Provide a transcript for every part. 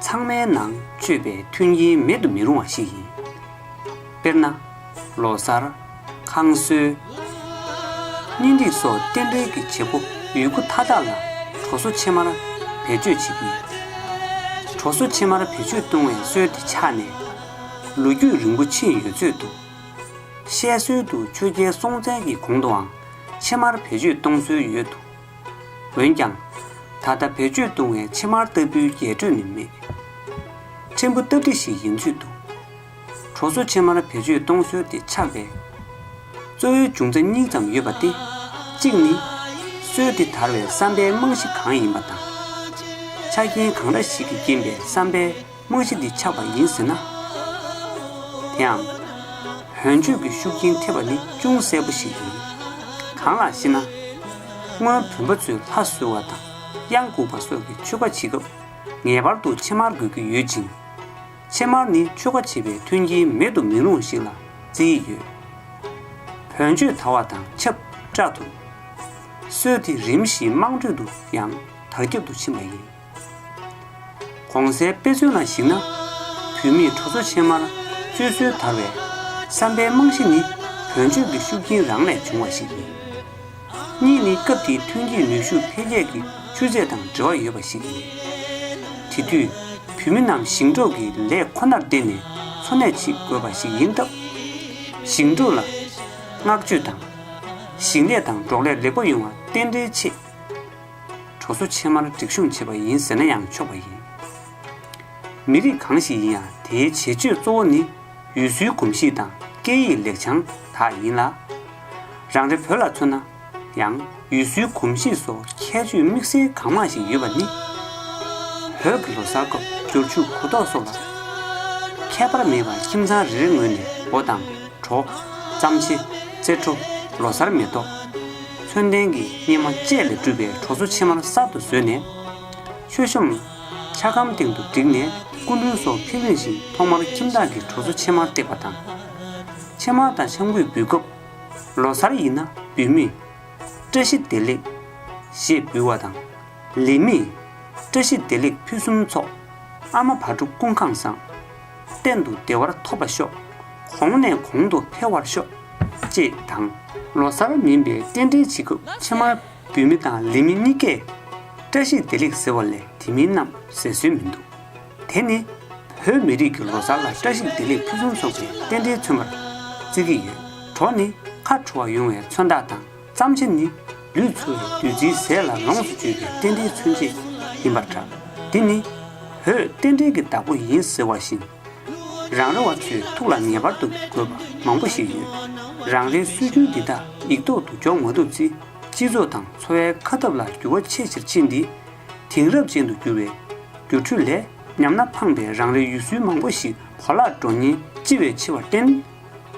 ཚང་མའི་ནང་སྤྱོད་པའི་མཐུན་རྐྱེན་མེད་དུ་མི་རུང་བ་ཞིག་ཡིན། དཔེར་ན། ལོ་གསར། ཁང་གསོའི། གཉེན་སྒྲིག་སོགས་རྟེན་འབྲེལ་གྱི་བྱེད་སྒོ་ཡོད་རྒུ་མཐའ་དག་ལ་གྲོ་སོ་ཕྱེ་མར་བེད་སྤྱོད་བྱེད་ཀྱི་ཡོད། གྲོ་སོ་ཕྱེ་མར་བེད་སྤྱོད་གཏོང་བའི་སྲོལ་དེ་ཆགས་ནས་ལོ་རྒྱུས་རིང་པོ་ཕྱིན་ཡོད་ཚོད་འདུག་བཤད་སྲོལ་དུ་ཆོས་རྒྱལ་སྲོང་བཙན་གྱི་གོང་དུའང་ཕྱེ་མར་བེད་སྤྱོད་གཏོང་སྲོལ་ཡོད་འདུག། འོན་ཀྱང། ད་ལྟ་བེད་སྤྱོད་བཏུང་བའི་ཕྱེ་མར་ལྟ་བུའི་རྒྱས་སྤྲོས་ནི་མེད། ཕྲན་བུ་སྟབས་འགྲིག་ཞིག་ཡིན་ཚོད་འདུག། གྲོ་སོ་ཕྱེ་མར་བེད་སྤྱོད་གཏོང་སྲོལ་དེ་ཆགས་པའི་གཙོ་བོའི་འབྱུང་རྩ་གཉིས་ཙམ་ཡོད་པ་སྟེ། གཅིག་ནི། སྲོལ་དེ་དར་བའི་བསམ་པའི་རྨང་གཞི་གང་ཡིན་པ་དང། ཆ་རྐྱེན་གང་འདྲ་ཞིག་གི་རྐྱེན་པས་བསམ་པའི། དངོས་གཞི་འདི་ཆགས་པ་ཡིན་ཟེར་ན། དེའང། བོན་ཆོས་ཀྱི་ཤུགས་རྐྱེན་ཐེབས་པ་ནི་ཅུང་གསལ་པོ་ཞིག་ཡིན། གང་ལགས་ཤེ་ན། སྔོན་བོན་པོ་ཚོས་ལྷ་གསོལ་བ་དང་གཡང་འགུགས་པ་སོགས་ཀྱི་ཆོས་ཀ་བྱེད་སྐབས། ངེས་པར་དུ་ཕྱེ་མར་དགོས་ཀྱི་ཡོད་ཅིང། ཕྱེ་མར་ནི་ཆོས་ཀ་བྱེད་པའི་མཐུན་རྐྱེན་མེད་དུ་མི་རུང་ཞིག་ལ་བརྩི་ཡི་ཡོད། བོན་ཆོས་དར་བ་དང་ཆབས་བཅར་དུ། སྲོལ་དེ་རིམ་བཞིན་དམངས་ཁྲོད་དུ་ཡང་དར་ཁྱབ་ཏུ་ཕྱིན་པ་ཡིན། གོང་གསལ་དཔེ་མཚོན་ལ་གཞིགས་ན། བུད་མེད་ཁྲོ་ཚོ་ཕྱེ་མར་བཙོས་སྲོལ་དར་བའི་བསམ་པའི་རྨང་གཞི་ནི་བོན་ཆོས་ཀྱི་ཤུགས་རྐྱེན་རང་ལས་བྱུང་བ་ཞིག་ཡིན། གཉིས་ནི་སྐབས་དེའི་ཐོན་སྐྱེད་ནུས་ཤུགས་འཕེལ་རྒྱས་ཀྱི་ཆུ་ཚད་དང་འབྲེལ་བ་ཡོད་པ་ཞིག་ཡིན། དེ་དུས་བུད་མེད་རྣམས་ཞིང་འབྲོག་གི་ལས་ཁོ་ནར་བརྟེན་ནས་འཚོ་གནས་བྱེད་དགོས་པ་ཞིག་ཡིན་སྟབས། ཞིང་འབྲོག་ལ་བསྔགས་བརྗོད་དང། ཞིང་ལས་དང་འབྲོག་ལས་ལེགས་པོ་ཡོང་བར་རྟེན་འབྲེལ་ཆེ། གྲོ་སོ་ཕྱེ་མར་སྒྲིག་གཤོམ་བྱེད་པ་ཡིན་ཟེར་ན་ཡང་ཆོག་པ་ཡིན། མི་རིགས་གང་ཞིག་ཡིན་ཡང་དེའི་བྱེད་སྤྱོད་གཙོ་བོ་ནི་ཡུལ་སྲོལ་གོམས་གཤིས་དང་སྐད་ཡིག་ལེགས་བྱང་དག་ཡིན་ལ། རང་རེ་བོད་ལ་མཚོན་ན་ཡང་ཡུལ་སྲོལ་གོམས་གཤིས་སོགས་ཁྱད་ཆོས་དམིགས་བསལ་གང་མང་ཞིག་ཡོད་པ་ནི། བོད་ཀྱི་ལོ་གསར་སྐབས་སྦྱོར་ཆུ་གུ་དོག་སོགས་ལ་ཁྱད་པར་མེད་པར་ཁྱིམ་ཚང་རེ་རེ་ངོས་ནས་སྒོ་དང། གྲོགས། གཙང་ཆེ། རྩེ་བྲོ། ལོ་གསར་མེ་ཏོག། ཚོན་ལྡན་གྱི་སྙེ་མ་བཅས་ལས་གྲུབ་པའི་གྲོ་སོ་ཕྱེ་མར་གསར་དུ་བཟོས་ནས། མཆོད་ཤོམ། འཆའ་སྒམ་སྟེང་དུ་བསྒྲིགས་ནས་སྐུ་མགྲོན་སོགས་ཕེབས་རིང་ཞིང་ཐོག་མར་ཁྱིམ་བདག་གིས་གྲོ་སོ་ཕྱེ་མར་བཏེགས་པ་དང། ཕྱེ་མར་དང་ཆང་གུད་འབུལ་སྐབས། ལོ་གསར་ཡིན་ན་འབུལ་མེད། བཀྲ་ཤིས་བདེ་ལེགས། ཞེས་འབུལ་བ་དང། ལེགས་མེད། བཀྲ་ཤིས་བདེ་ལེགས་ཕུན་སུམ་ཚོགས། ཨ་མ་བ་ཕྲུག་ཀུན་ཁང་བཟང། གཏན་དུ་བདེ་བར་ཐོབ་པར་ཤོག། གོང་ནས་གོང་དུ་འཕེལ་བར་ཤོག། ཅེས་དང། ལོ་སར་མིན་པའི་རྟེན་འབྲེལ་བྱེད་སྐབས་ཕྱེ་མར་འབུལ་མི་དང་ལེན་མི་གཉིས་ཀས། བཀྲ་ཤིས་བདེ་ལེགས་ཟེར་བ་ལས་དེ་མིན་རྣམས་ཟེར་སྲོལ་མི་འདུག་དེ་ནི། བོད་མི་རིགས་ཀྱི་ལོ་སར་ལ་བཀྲ་ཤིས་བདེ་ལེགས་ཕུན་སུམ་ཚོགས་པའི་རྟེན་འབྲེལ་མཚོན་པར་བརྩི་གི་ཡོད། གྲོགས་ནི་ཁ་བྲོ་བ་ཡོང་བའི་མཚོན་རྟགས་དང། བརྩམས་ཆེན་ནི། བདུད་ཚུལ་རིགས་བདུད་རྩིའི་ཟས་ལ་ལོངས་སུ་སྤྱོད་པའི་རྟེན་འབྲེལ་མཚོན་བྱེད་ཡིན་པར་གྲགས། འདི་ནི། བོད་རྟེན་འབྲེལ་གྱི་བདག་པོ་ཡིན་ཟེར་བ་བཞིན། རང་རེ་བ་ཚོའི་ཐུགས་ལ་ངེས་པར་དུ་དགོས་པ་མང་པོ་ཞིག་ཡོད། རང་རེའི་སྲོལ་རྒྱུན་འདི་དག་ཡིག་ཐོག་ཏུ་འཇོག་མ་ཐུབ་ཚེ་སྤྱི་ཚོགས་དང་འཚོ་བའི་ཁ་སྟབས་ལ་འགྱུར་བ་ཆེས་ཆེར་ཕྱིན་ཏེ། དེང་རབས་ཅན་དུ་འགྱུར་བའི། སྒྱུ་འཕྲུལ་ལས། ཉམས་སྣ་འཕངས་པའི་རང་རེའི་ཡུལ་སྲོལ་མང་པོ་ཞིག་གོ་ལ་འགྲོ་ཉེན་ལྕི་བས་འཆི་བར་བརྟེན།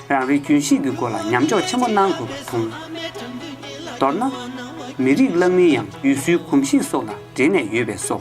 རང་རེའི་རྒྱུན་ཤེས་ཀྱི་སྒོ་ལ་ཉམས་འཇོག་ཆེན་པོ་གནང་དགོས་པ་མཐོང། མདོར་ན། མི་རིགས་བླ་མིའི་ཡང་ཡུལ་སྲོལ་གོམས་གཤིས་སོགས་ལ་འབྲེལ་ནས་ཡོད་པས་སོ།